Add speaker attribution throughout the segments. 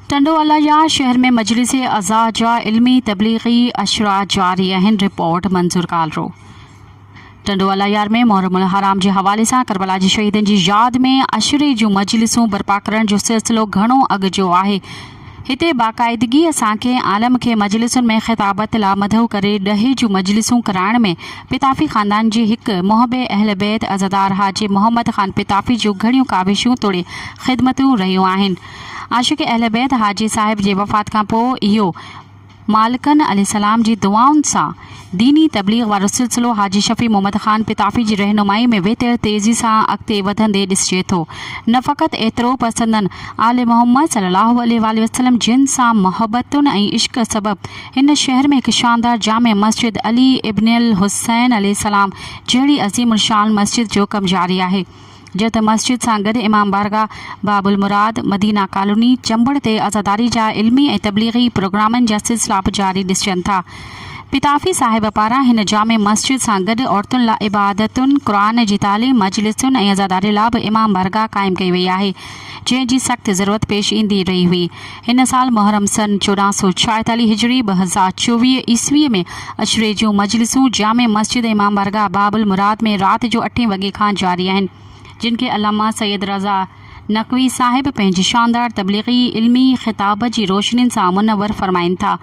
Speaker 1: ٽنڊو الايا شهر ۾ مجلس عزا جا علمي تبليغي عشرا جاري آهن، رپورٽ منظور ڪالرو. ٽنڊو الايا ۾ محرم الحرام جي حوالي سان ڪربلا جي شهيدن جي ياد ۾ عشري جون مجلسون برپا ڪرڻ جو سلسلو گهڻو اڳ جو آهي، هتي باقاعدگيء سان ڪنهن عالم کي مجلسن ۾ خطابت لا مدعو ڪري ڏهي جون مجلسون ڪرائڻ ۾ پتافي خاندان جي هڪ محب اهل بيت عزادار حاجي محمد خان پتافي جون گهڻيون ڪاوشون توڙي خدمتون رهيون آهن. عاشق اهل بيت حاجي صاحب جي وفات کان پوء اهو مالڪن عليه السلام جي دعائن سان ديني تبليغ وارو سلسلو حاجي شفيع محمد خان پتافي جي رهنمائي ۾ ويتر تيزي سان اڳتي وڌندي ڏسجي ٿو. نه فقط ايترو پر سندن آل محمد صلي الله عليه واٰله وسلم جن سان محبتن ۽ عشق سبب هن شهر ۾ هڪ شاندار جامع مسجد علي ابن الحسين عليه السلام جهڙي عظيم الشان مسجد جو ڪم جاري آهي. جيئن ته مسجد سان گڏ امام بارگاهه، باب المراد، مدينه ڪالوني، چمبڙ تي عزاداري جا علمي ۽ تبليغي پروگرامن جا سلسلا به جاري ڏسجن ٿا. پتافي صاحب پاران هن جامع مسجد سان گڏ عورتن لا عبادتن، قرآن جي تعليم، مجلسن ۽ عزاداري لا به امام بارگاهه قائم ڪئي وئي آهي، جنهن جي سخت ضرورت پيش ايندي رهي هئي. هن سال محرم سن چوڏهن سؤ ڇاهيتالهه هجري ٻه هزار چوويهه عيسويء ۾ عشري جون مجلسون جامع مسجد امام بارگاهه باب المراد ۾ رات جو اٺين وڳي کان جاري آهن جن کي علامه سيد رضا نقوي صاحب پنهنجي شاندار تبليغي علمي خطاب جي روشنين سان منور فرمائين ٿا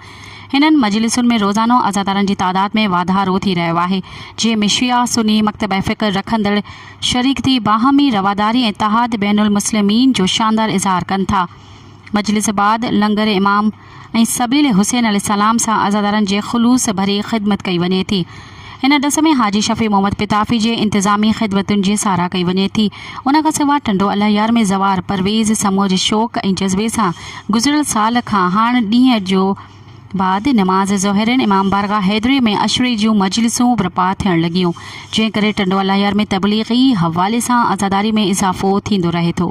Speaker 1: هنن مجلسن ۾ روزانو عزادارن جي تعداد ۾ واڌارو ٿي رهيو آهي جنهن ۾ شيعه سني مڪتبه فڪر رکندڙ شريڪ ٿي باهمي رواداري ۽ اتحاد بين المسلمين جو شاندار اظهار ڪن ٿا. مجلس بعد لنگر امام ۽ سبيل حسين عليه السلام سان عزادارن جي خلوص ڀري خدمت ڪئي وڃي ٿي. ان ڏس ۾ حاجي شفيع محمد پتافي جي انتظامي خدمتن جي ساراهه ڪئي وڃي ٿي. ان کان سواء ٽنڊو الهيار ۾ زوار پرويز سموجهه شوق ۽ جذبي سان گذريل سال کان هاڻ ڏينهن جو بعد نماز ظهرين امام بارگاهه حيدري ۾ عشري جون مجلسون برپا ٿيڻ لڳيون جنهن ڪري ٽنڊو الهيار ۾ تبليغي حوالي سان عزاداري ۾ اضافو ٿيندو رهي ٿو.